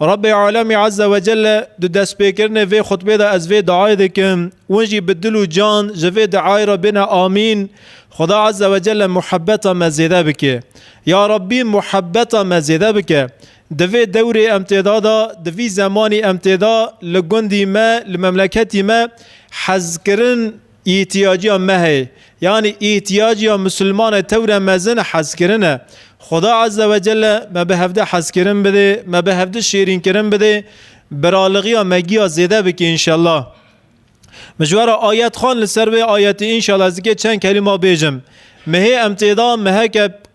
Rabbê Alemî Ezze ve Celle di destpêkirinê vê xutbê de ez vê diayê dikim, win jî bi dil û can ji vê diayê re bêne amîn, Xuda Ezze ve Celle muhebeta me zêde bike. Ya Rabbî muhebeta me zêde bike. Di vê dewrê em tê de de, di vî zemanî em tê de li gundî me, li memleketî me hezkirin, Îhtîyaciya me heye. Yanî îhtîyaciya Musulmane tewre mezin hezkirin e. Xuda Azze ve Celle me bi hevdî hezkirin bidê, me bi hevdî şêrînkirin bidê, biralixiya me giya zêde bike înşellah. Mijwara Ayet Xan li ser vê ayetê înşellah ez dikê çend kelîma bêjim. Mihê em têda miheke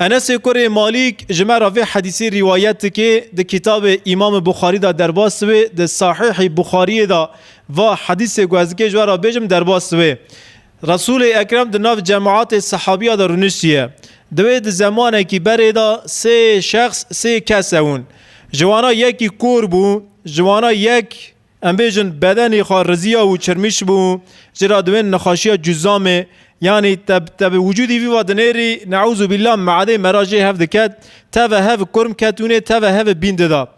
Enesê kurê Malîk ji me re vê hedîsê rîwayet dike, di kîtabê Îmamê Buxarî de derbas wê, di Sahîhî Buxarîyê de va, Hedîsê ku ez dikê ji we re bêjim derbas wê. Resûlê Ekrem di nav cemaatê sehabîya de rûniştiye. Divê di zemanekî berê de sê şexs, sê kes hewin. Ji wana yekî kor bû, ji wana yek Em bêjin bedenî xwe riziya û çirmîş bû, ji ra diwên nexaşiya cuzamê yanî teb teb wicûdî vî va dinêrî neûzû bîllah meadê me ra jê hev diket, teve hev kurm ketûnê teve hev bîn dida.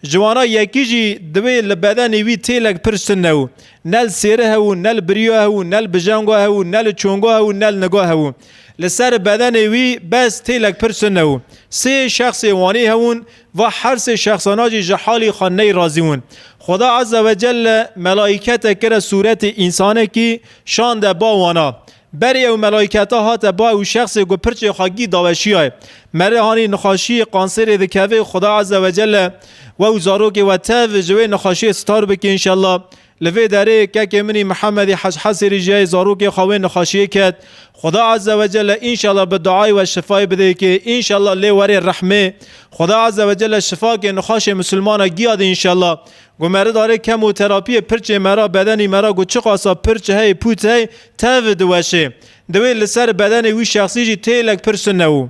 Ji wan a yekî jî diwê li bedenî wî têlek pir ştin newû. Ne li sêri hewû, ne li biriya hewû, ne li bijenga hewû, ne li çonga hewû, ne li niga hewû. Li ser bedenê wî bes têlek pir ştin newû. Sê şexsê wanî hewûn, Va her sê şexsana jî ji halî xwe ney razî win. Xweda Azze ve Celle melaîkete kire sûretê însanekî şande ba wan a. Berê ew melaîketa hate ba ew şexsê ku pirçê xwe gî daweşîyayê. Merê hanî nixaşîyê kansêrê dikevê Xweda Azze ve Celle we û zarokê we tev ji wê nixaşîyê sitar bike înşella Li vê derê kekê min î Mihemedî Hec'Hesirî jiyayê zarokê xwe wê nixaşiyê ket, Xuda Azze ve Celle înşallah bi duayê we şifayê bidê kê înşallah lê werê rehmê Xuda Azze ve Celle şifa kê nixaşê misilmana giya dê înşallah Ku me ridarê kemoterapiyê pirçê me ra bedenî me ra ku çiqasa pirç hey pût hey tev diweşê diwê li ser bedenê wî şexsî jî têlek pir sune û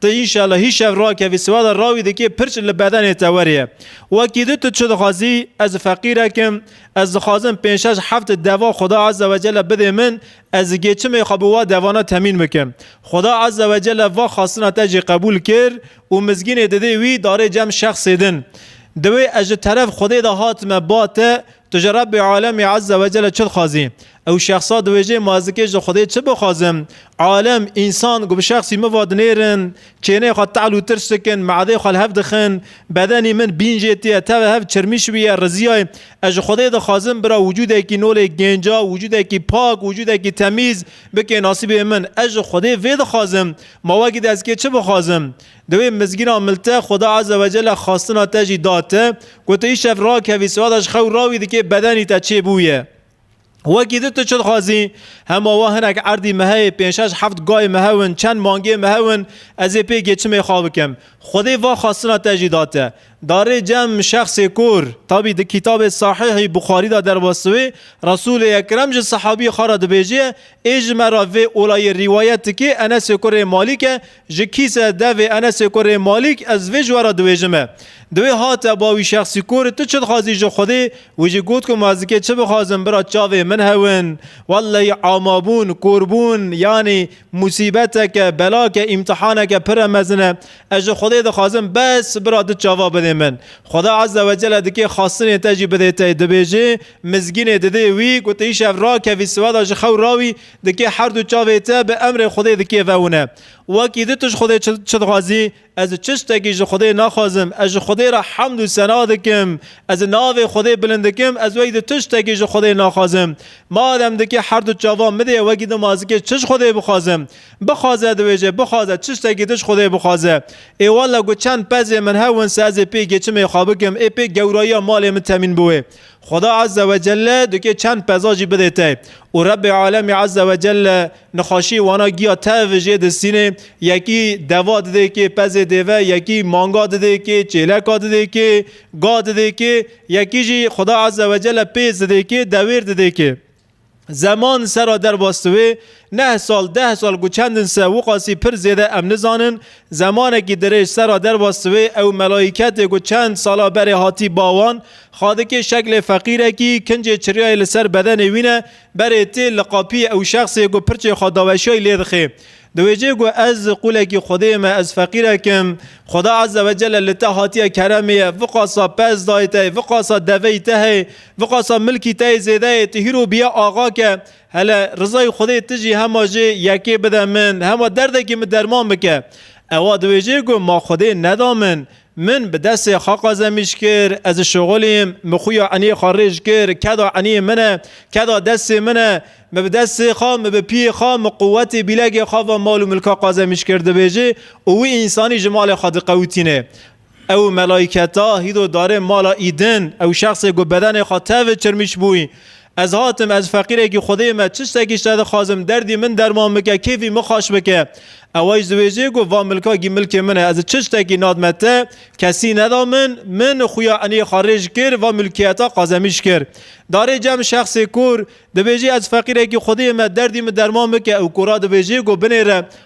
Tu înşala hî şev rakevî siwada rawî dikê pirç li bedenê te weriye. Wekî di tu çi dixwazî ez feqîrek im, ez dixwazim pênc şeş heft deva Xuda Azze ve Celle bidê min, ez di gêçimê xwe bi wa devana temîn bikim. Xuda Azze ve Celle va xastina te jî qebûl kir û mizgînê didê wî darê cem şexsê din. Di wê ez ji teref Xwedê de hatime ba te Tu ji Rebbê Alemê Ezze Wecele çi dixwazî? Ew şexsa diwêjê ma ez di kê ji Xwedê çi bixwazim? Alem, însan, ku bi şexsî min ve dinêrin, kêneyê xwe tehl û tirs dikin, me'edeyê xwe li hev dixin, bedenî min bîn jê tîye, tevê hev çirmî şiviye, riziyay. Ez ji Xwedê dixwazim bira wicûdekî nolê gênca, wicûdekî pak, wicûdekî temîz bike nasîbê min. Ez ji Xwedê vê dixwazim. Ma wekî di ez kê çi bixwazim? Di wê mizgîna mil te Xweda Eze Wecele xastina te jî da te ku tu îşev rakevî siwada ji xew rawî dikê bedenî te çê bûye. Wekî di tu çi dixwazî hema wa hinek erdî me heye pênc şeş heft gayê me hew in çend mangê me hew in ez ê pê gêçimê xwe bikim. Xwedê va xastina te jî da te. Darê cem şexsê kor tabî di kîtabê Sahîhî Buxarî de derbas wê Resûlê Ekrem ji sehabî xwe re dibêje ê ji me re vê olayê rîwayet dikê Enesê kurê Malîk e Ji kîse, devê, Enesê ku rê Malîk ez vê ji we re diwêjim e. Di wê hate ba wî şexsî ku rê tu çi dixwazî ji Xwedê, wî jî got ku ma ez dikê çi bixwazim bira çavê min hewin. Welleyî amabûn, korbûn, yanî musîbeteke, belake, îmtihaneke pire mezin e. Ez ji Xwedê dixwazim bes bira du çava bidê min. Xweda Eze we Celle dikê xastinê te jî bidê te. Dibêjê, mizgînê didê wî, gotê îşev rakevî siweda ji xew rawî, Dikê herdu çavê te bi emrê Xwedê dikê vewine. Wekî di tij Xwedê çi çi dixwazî, ez çi ştekî ji Xwedê naxwazim, ez ji Xwedê re hemd û sena dikim, ez navê Xwedê bilind dikim, ez wekî di tij tekî ji Xwedê naxwazim. Madem dikê herdu çavan min dê wekî di ma zikê çi ji Xwedê bixwazim? Bixwaze dibêje, bixwaze çi ştekî di ji Xwedê bixwaze. Ê walla ku çend pezê min hewin se ez ê pê gêçimê xwe bikim, ê pê gewrayiya malê min temîn biwê. Xweda Azze ve Celle dikê çend peza jî bidê te û Rebbê Alemî Azze ve Celle nixweşiyê wana giya tev jê distînê, yekî deva didê kê pezê dêve, yekî manga didê kê, çêleka didê kê, ga didê kê, yekî jî Xweda Azze ve Celle pêz didê kê, dewêr didê kê. Zeman sera derbas diwê, neh sal, deh sal ku çend in se Wuqasî pir zêde em nizanin, zemanekî dirêj sera derbas diwê, ew melayîketê ku çend sala berê hatî ba wan, xadikê şeklê feqîrekî, kincê çiryayê li ser bedenê wî ne, berê tê, li qapiyê ew şexsê ku pirçê xwe daweşiyayî lê dixê. Di wê cihê ku ez qûlekî Xwedê me, ez feqîrek im, Xweda Ezze ve Celle li te hatiye keremê ye, viqasa pez dayê te yê, viqasa deveyî te heye, viqasa milkî te yê zêde yê, tu hîro bîye axa ke, hele rizayê Xwedê tu jî hema jê yekê bide min, hema derdekê min derman bike. Ewa di wê cihê ku ma Xwedê neda min, Min bi destê xwe qazemîş kir, ez ji şoxulîm, min xuya eniyê xwe rêj kir, keda eniyê min e, keda destê min e, min bi destê xwe, min bi piyê xwe, min quwetê bîlegê xwe va mal û milka qazemîş kir dibêjê û wî însanî ji malê xwe diqewitînê. Ew melayketa hîdo darê mala Îdin, ew şexsê ku bedenê xwe tevê çirmîş bûyî, Ez hatim, ez feqîrekî Xwedê me, çi ştekî ji te dixwazim, derdî min derman bike, kêfî min xweş bike. Ewa jî diwêjê ku va milka gî milkê min e, ez çi ştekî nadime te, kesî neda min, min xuya enê xwe rêj kir, va milkiyeta qazemîş kir. Darê cem şexsê kûr, dibêjê ez feqîrekî Xwedê me, derdî min derman bike û kûra dibêjê ku binêre,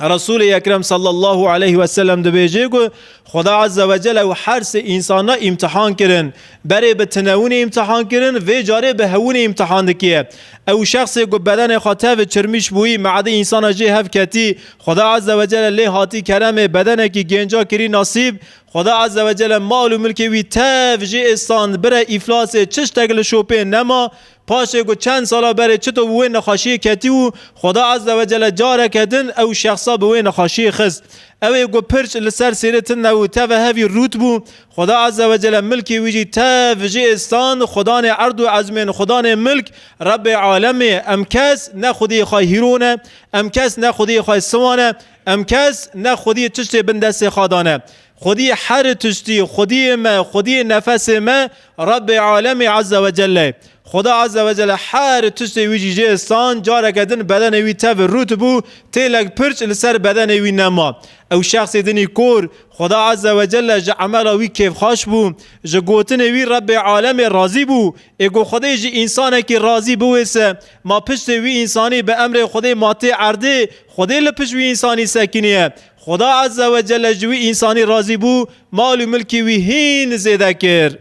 Resulê Ekrem sallallahu aleyhi ve sellem dibêje ku Xweda azze ve cel ew her sê însana îmtihan kirin. Berê bi tinewinê îmtihan kirin, vê carê bi hewinê îmtihan dikiye. Ew şexsê ku bedenê xwe tevê çirmîş bûyî, meadê însana jê hev ketî, Xweda azze ve cel lê hatî keremê, bedenekî gênca kirî nasîb, Xweda azze ve cel mal û milkê wî tev jê êstand, bire îflasê, çi ştek li şopê nema, Paşê ku çend sala berê çito bi wê nexaşiyê ketî û Xweda Ezze Wecele careke din ew şexsa bi wê nexaşiyê xist. Ew ê ku pirç li ser sêrê tinde û teve hevî rût bû, Xweda Ezze Wecele milkê wî jî tev ji ê stand, xwedanê erd û ezmên, xwedanê milk, Rebbê Alemê, em kes ne xwediyê xwe hîro ne, em kes ne xwediyê xwe siwa ne, em kes ne xwediyê çiştê bin destê xwe dane. Xwedî her tiştî, xwediyê me, xwediyê nefesê me Rebbê Alemî Ezze ve Celle ye. Xweda Ezze ve Celle her tiştê wî jî jê stan, careke din bedenê wî tevir rût bû, têlek pirç li ser bedenê wî nema. Ew şexsê dinî kor, Xweda Ezze ve Celle ji emela wî kêfxweş bû, ji gotinê wî Rebbê Alemê razî bû. Ê ku Xwedê ji însanekî razî biwê se, ma piştê wî însanî bi emrê Xwedê ma tê erdê, Xwedê li pişt wî însanî sekiniye. Xuda Azze ve Celle ji wî însanî razî bû, mal û milkê wî hîn zêde kir.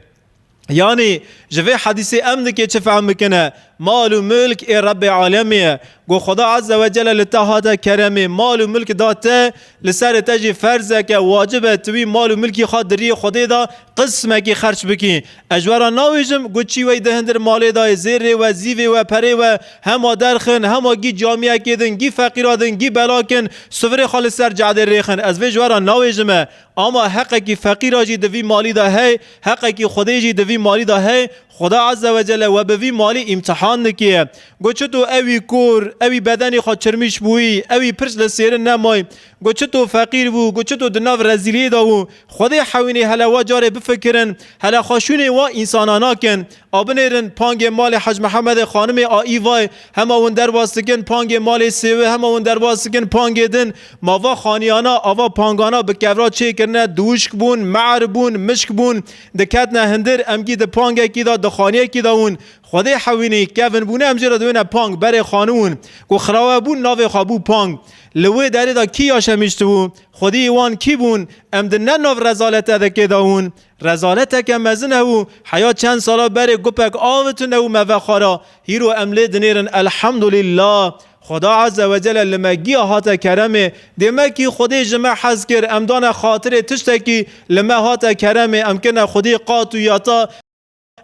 Yanî ji vê hedîsê em dikê çi fehm bikine? Mal û milk ê Rebbê Alemê ye. Ku Xuda Azze ve Celle li te hate keremê, mal û milk da te, li serê te jî ferzek e, wacib e tu wî mal û milkî xwe diriyê Xwedê de, Qismekî xerç bikî. Ez we ra nawêjim, got çî wey di hindir malê da yê, zêrê we, zîvê we, perê we, hema derx in, hema gî camiyekê din, gî feqîra din, gî belak in, sivirê xwe li ser cadê rêx in. Ez vê ji we ra nawêjime. Ama heqekî feqîra jî di vî malî da hey, heqekî xwedê jî di vî malî da hey. Xweda Eze we Celle we bi vî malî îmtihan dikê. Got çito ewî kor, ewî bedenê xwe çirmîş bûyî, ewî pirç li sêrin nemayî, Got çito feqîr bû, got çito di nav rezîliyê de bû. Xwedê hewînê hele wa carê bifikirin, hele xwe şûnê wa însanan nakin. A binêrin pangê malê Hec Mihemedê xanimê a Îvayê, hema win derbas dikin pangê malê sêwê, hema win derbas dikin pangê din. Ma va xaniyana, ava pangana bi kevra çêkirine, diwişk bûn, me'er bûn, mişk bûn. Diketine hindir, emgî di pangekî de, di xaniyekî de win. Xwedê hewînî kevin bûne em jê re diwêne pang berê xanûn ku xirawe bûn navê xwe bû pang. Li wê derê de kî yaşem hiştibû? Xwediyê wan kî bûn? Em di ne nav rezalete de kê de hûn? Rezaleteke mezin hebû heya çend sala berê gupek avi tune û me vexwara. Hîro em lê dinêrin Elhamdulîllah. Xweda Eze wecele li me giya hate keremê. Dê me kî Xwedê ji me hez kir em dane xatirê tiştekî li me hate keremê em kirine Xwedê qat û yata.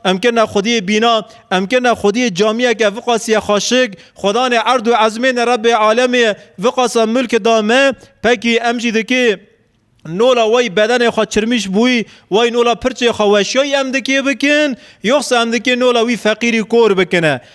Em kirine xwediyê bîna, em kirine xwediyê camiyeke viqasîye xaşik, xwedanê erd û ezmênê Rebbê alemê viqasa milk da me, pekî em jî dikê nola wey bedenê xwe çirmîş bûyî, wey nola pirçê xwe weşyayî em dikê bikin, yoxsa em dikê nola wî feqîrî kor bikine.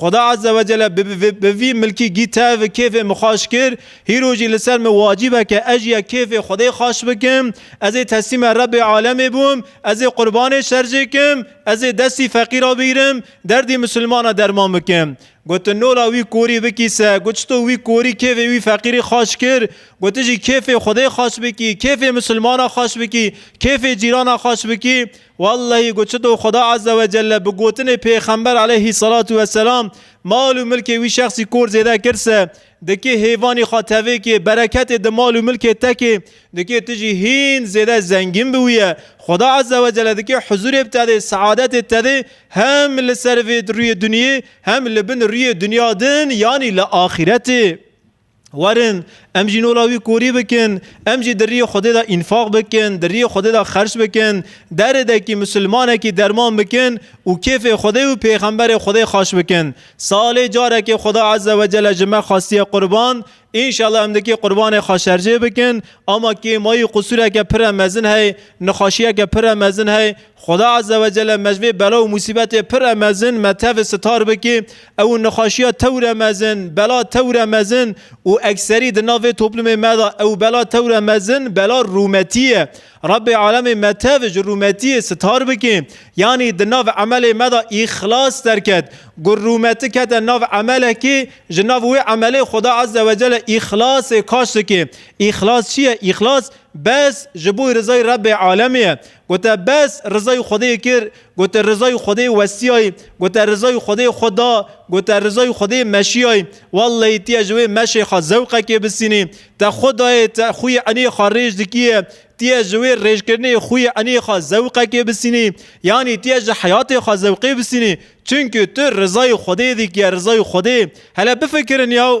Xuda Azze ve Celle bi bi vî milkî gî tev û kêfê min xweş kir, hîro jî li ser min wacîb e ke ez jî ya kêfê Xwedê xweş bikim. Ez ê teslîma Rebbê Alemê bûm, ez ê qurbanê şerjê kim, ez ê destî feqîra bigîrim, derdî misilmana derman bikim. Gotin nola wî korî bikî se, got çito wî korî kêfê wî feqîrî xweş kir, got tu jî kêfê Xwedê xweş bikî, kêfê misilmana xweş bikî, kêfê cîrana xweş bikî, Wellehî ku çi do Xweda Azze ve Celle bi gotinê Pêxember Eleyhî Selatu ve Selam mal û milkê wî şexsî kor zêde kir se, dikê hêvanî xwe tevê kê, bereketê di mal û milkê te kê, dikê tu jî hîn zêde zengîn bi wî ye. Xweda Azze ve Celle dikê huzûrê bi te dê, seadetê te dê hem li ser vê rûyê dinyê hem li bin rûyê dinya din yanî li axîretê. Werin em jî nola wî korî bikin, em jî di riyê Xwedê de înfaq bikin, di riyê Xwedê de xerç bikin, derê dekî misilmanekî derman bikin û kêfê Xwedê û pêxemberê Xwedê xweş bikin. Salê carekê Xweda Eze we Cele ji me xwestiye qurban, înşela em dikê qurbanê xwe şercê bikin, ama kêmayî qusûreke pire mezin hey, nixweşiyeke pire mezin hey, Xuda Azze ve Celle me ji vê bela û musîbetê pire mezin me tevê sitar bike. Ew û nexweşiya tewre mezin, bela tewre mezin û ekserî di nav vê toplûmê me de ew bela tewre mezin bela rûmetî ye. Rebbê Alemê me tev ji rûmetîyê sitar bike. Yanî di nav emelê me de îxlas derket. Ku rûmeti kete nav emelekê, ji nav wê emelê Xuda Azze ve Celle îxlasê kaş dike. Îxlas çi ye? Îxlas bes ji bo rizayê Rebbê Alemê ye. Gote, Bes, rizayê Xwedê kir. Gote, Rizayê Xwedê westiyayî. Gote, Rizayê Xwedê xwe da. Gote, Rizayê Xwedê meşiyayî. Wellehî tî ye ji wê meşê xwe zewqekê bisînî. Te xwe dayê, te xwî enê xwe rêj dikîyê. Tî ye ji wê rêjkirinê xwî enê xwe zewqekê bisînî. Yanî tî ye ji heyatê xwe zewqê bisînî. Çimkî tu rizayê Xwedê dikîye, rizayê Xwedê. Hele bifikirin yaw.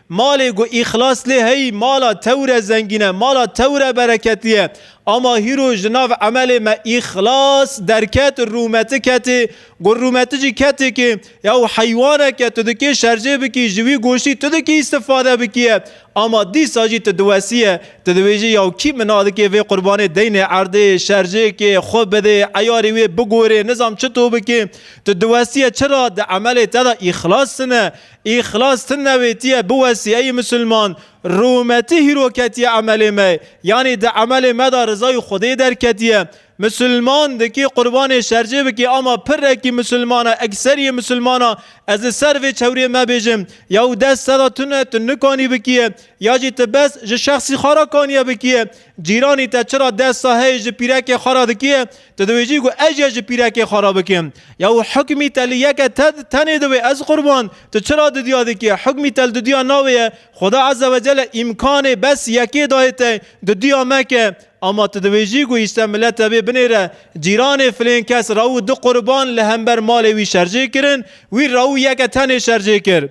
Malê ku îxlas lê heyî mala tewre zengîn e, mala tewre bereketî ye. Ama hîro ji nav emelê me îxlas derket, rûmeti ketê. Ku rûmeti jî ketikê ya û heywanek e, tu dikê şerjê bikî, ji wî goştî tu dikî îstîfade bikî ye. Ama dîsa jî tu diwesî ye, tu dibêjî ya kî min a dikê vê qurbanê deynê erdê, şerjêkê, xwe bidê, eyarî wê bigorê, nizam çito bikê. Tu diwesî ye çira di emelê te de îxlas tune. Îxlas ti newêtiye biwesî ey misilman, rûmetî hîro ketiye emelê me, yanî di emelê me de rizayê Xwedê derketiye. Misilman dikê qurbanê şercê bikê ama pirrekî misilman e, ekseriyê misilman a, ez li ser vê çewrê me bêjim, ya û dest seda tune tu nikanî bikiye, ya jî tu bes ji şexsî xwe re kaniye bikiye. Cîranî te çira desta heyê ji pîrekê xwe re dikiye? Tu dibêjî ku ez jê ji pîrekê xwe re bikim. Ya û hukmî telî yeke te tenê divê ez qurban. Tu çira didya dikî? Hukmî tel didya navê ye. Xweda Eze ve Cele îmkanê bes yekê dayê te. Didya meke. Ama tu dibêjî ku îşte mile tevê binêre. Cîranê filên kes rew û du qurban li hember malê wî şerjê kirin. Wî rew û yeke tenê şerjê kir.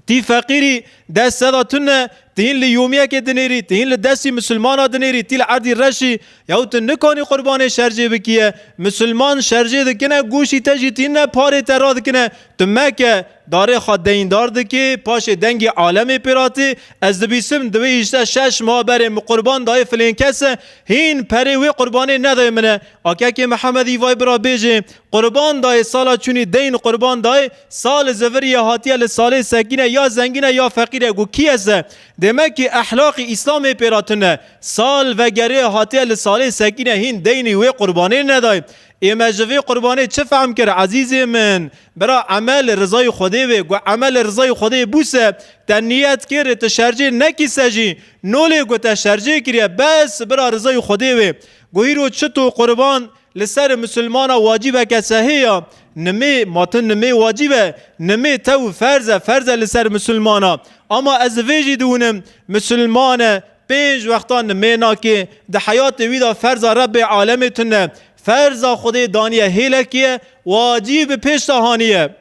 Tî feqîrî dest seda tune, tu hîn li yûmiyekê dinêrî, tu hîn li destî misilmana dinêrî, tî li erdî reşî, yaw tu nikanî qurbanê şercê bikiye. Misilman şercê dikine, goşî te jî tînine, parê te radikine. Tu meke, darê xwe deyndar dikê, paşê dengê alemê pê ra tê. Ez dibîsim di vê îşte şeş meha berê min qurban dayê filên kese, hîn perê wê qurbanê nedayê min e. Akekê Mihemedî vay bira bêjê, Qurban dayê sala çûnî deyn qurban dayê sal li zivir ye hatiye li salê sekîne ya zengîn e ya feqîr e ku kî ez e? Dême kî ehlaqî îslamê pê re tune. Sal vegerê hatiye li salê sekîne hîn deynî wê qurbanê nedayê. Ê me ji vê qurbanê çi fehm kir ezîzê min? Bira emel li rizayê xwedê be ku emel li rizayê xwedê bû se te niyet kir tu şercê nekî se jî nolê ku te şercê kiriye bes bira rizayê xwedê be. Ku hîro çi to qurban Li ser misilmana wacîbeke sehê ya, nimê, ma tu nimê wacîb e, nimê tew ferz e, ferz e li ser misilmana. Ama ez li vê jî diwînim, misilman e, pênc wexta nimê nake, di heyatê wî de ferza Rebbê alemê tune, ferza Xwedê daniye hêlekê ye, wacîb bi pêş de haniye.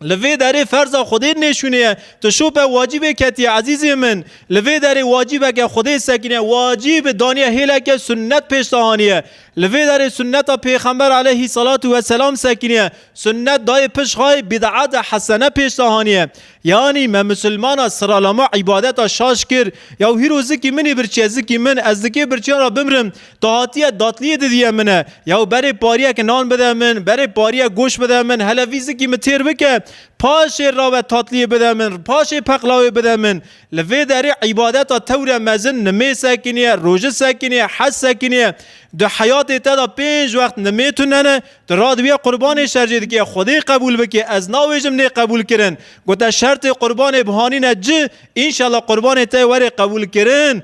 Li vê derê ferza Xwedê nêşûnê ye. Tu şope wacîbê ketiye ezîzê min. Li vê derê wacîbeke Xwedê sekîne wacîb daniye hêleke sunnet pêş de haniye. Li vê derê sunneta pêxember aleyhî selatû we selam sekîniye sunnet dayê pişt xayê bîd'at e hesene pêş de haniye. Yanî me musilmana siralama îbadeta şaş kir. Yaw hîro zikî minî birçiye zikî min ez di kê birçiyan ra bimrim. Tu hatiye datliyê didiye min e. Yaw berê pariyeke nan bide min, berê pariyek goş bide min, hele vî zikî min têr bike. Paşê rabe tatliyê bide min, paşê peqlawê bide min. Li vê derê îbadeta tewre mezin nimê sekiniye, roji sekiniye, hez sekiniye. Di heyatê te de pênc wext nimê tune ne, tu radibiye qurbanê şer jê dikê, Xwedê qebûl bikê, ez nabêjim nê qebûl kirin. Gote şertê qurbanê bihanîne ci, înşela qurbanê te yê werê qebûl kirin.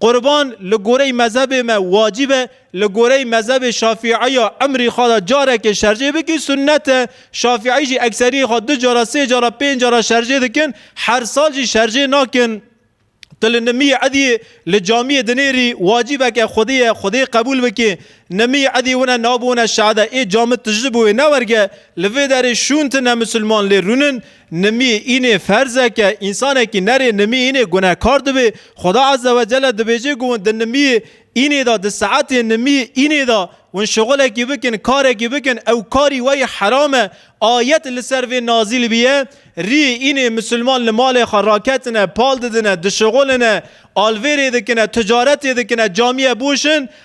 Qurban li goreyî mezhebê me wacib e, li goreyî mezhebê şafîî ya emrî xwe de carekê şerjê bikî sunnet e, şafîî jî ekseriyê xwe du cara, sê cara, pênc cara şerjê dikin, her sal jî şerjê nakin. Tu li nimiyê ediyê li camiyê dinêrî wacibeke xwedê ye xwedê qebûl bikê. Nimiyê ediyê wina nabû wina şe'de ê cami tijli bû wê newerge. Li vê derê şûn tune misilman lê rûnin. Nimî înê ferzeke însanekî nerê nimî înê gunehkar dibê. Xweda Azze we Celle dibêje ku hûn di nimî înê de di saetê nimî înê de hûn şixulekî bikin karekî bikin ew karî we yê heram e. Ayet li ser vê nazîl biye, Rî înê misilman li malê xwe raketine, pal didine, dişixulîne, alvêrê dikine, ticaretê dikine, camîye bûşin,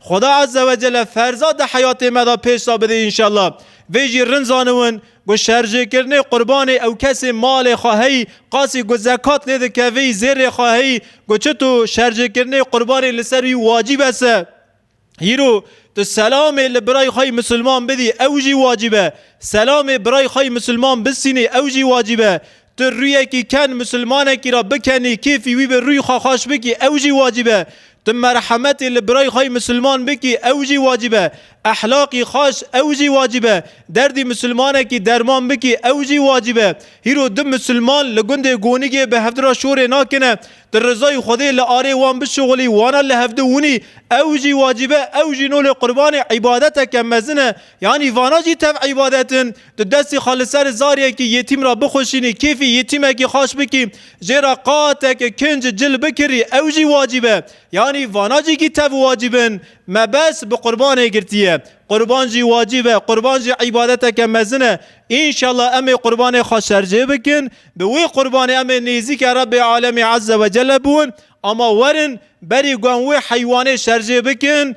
Xuda Azze ve Celle ferza di heyatê me de pêş de bidê înşella. Vê jî rind zaniwin ku şerjêkirinê qurbanê ew kesê malê xwe heyî qasî ku zekat lê dikevî zêrê xwe heyî ku çito şerjêkirinê qurbanê li ser wî wacîb ese. Hîro tu selamê li birayê xwe yî misilman bidî ew jî wacîb e. Selamê birayê xwe yî misilman bisînî ew jî wacîb e. Tu rûyekî ken misilmanekî ra bikenî, kêfî wî be, rûyê xwe xweş bikî, ew jî wacîb e. Tu merhemetê li birayê xwe yê misilman bikî, ew jî wacîb e. Ehlaqî xweş, ew jî wacîb e. Derdê misilmanekî derman bikî, ew jî wacîb e. Hîro du misilman li gundê Gonigê bi hevdira şorê nakine, tu rizayê Xwedê li arê wan bişuxulî, wana li hevdu winî, ew jî wacîb e, ew jî nolê qurbanê îbadeteke mezin e. Yanî vana jî tev îbadet in. Tu destê xwe li ser zaryekî yetîm re bixweşînî, kêfê yetîmekî xweş bikî, jê re qateke kinc cil bikirî ew jî wacîb e. Yanî vana cîkî tev wacîb in. Mebes bi qurbanê girtiye. Qurban jî wacîb e. Qurban jî îbadeteke mezin e. Înşellah em ê qurbanê xwe şerjê bikin. Bi wê qurbanê em ê nêzîka Rebê Alemî Ezze Wecelle biwin. Ama werin berî guhem wê heywanê şerjê bikin.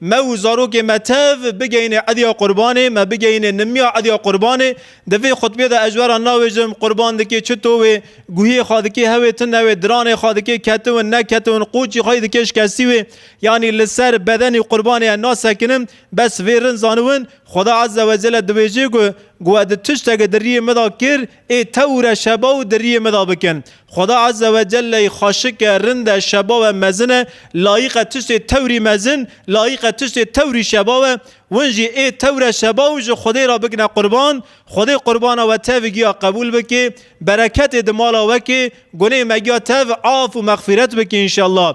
Me û zarokên me tev bigeyne Ediya Qurbanê, me bigeyne nimiya Ediya Qurbanê. Di vê xutbê de ez weran navêjim, Qurban dike çi towê, guhiyê xwe dike hewê tu newê, diranê xwe dike ketiwin neketiwin, qoçî xwe yê dike şkestî wê. Yanî li ser bedenî Qurbanê ez nasekinim. Bes vê rin zaniwin, Xweda Ezze Wecelle dibêje ku, ku we di tiştekê di riyê min de kir, Ê tewre şeba û diriyê min da bikin. Xweda Azze ve Celle yê xweşik e, rind e, şeba we mezin e, layîq e tiştê tewrî mezin, layîq e tiştê tewrî şeba we. Win jî ê tewre şeba û ji Xwedê re bikine qurban. Xwedê qurbana we tevî giya qebûl bike, bereketê di mala we ke, gunê me giya tev af û mexfîret bike înşellah.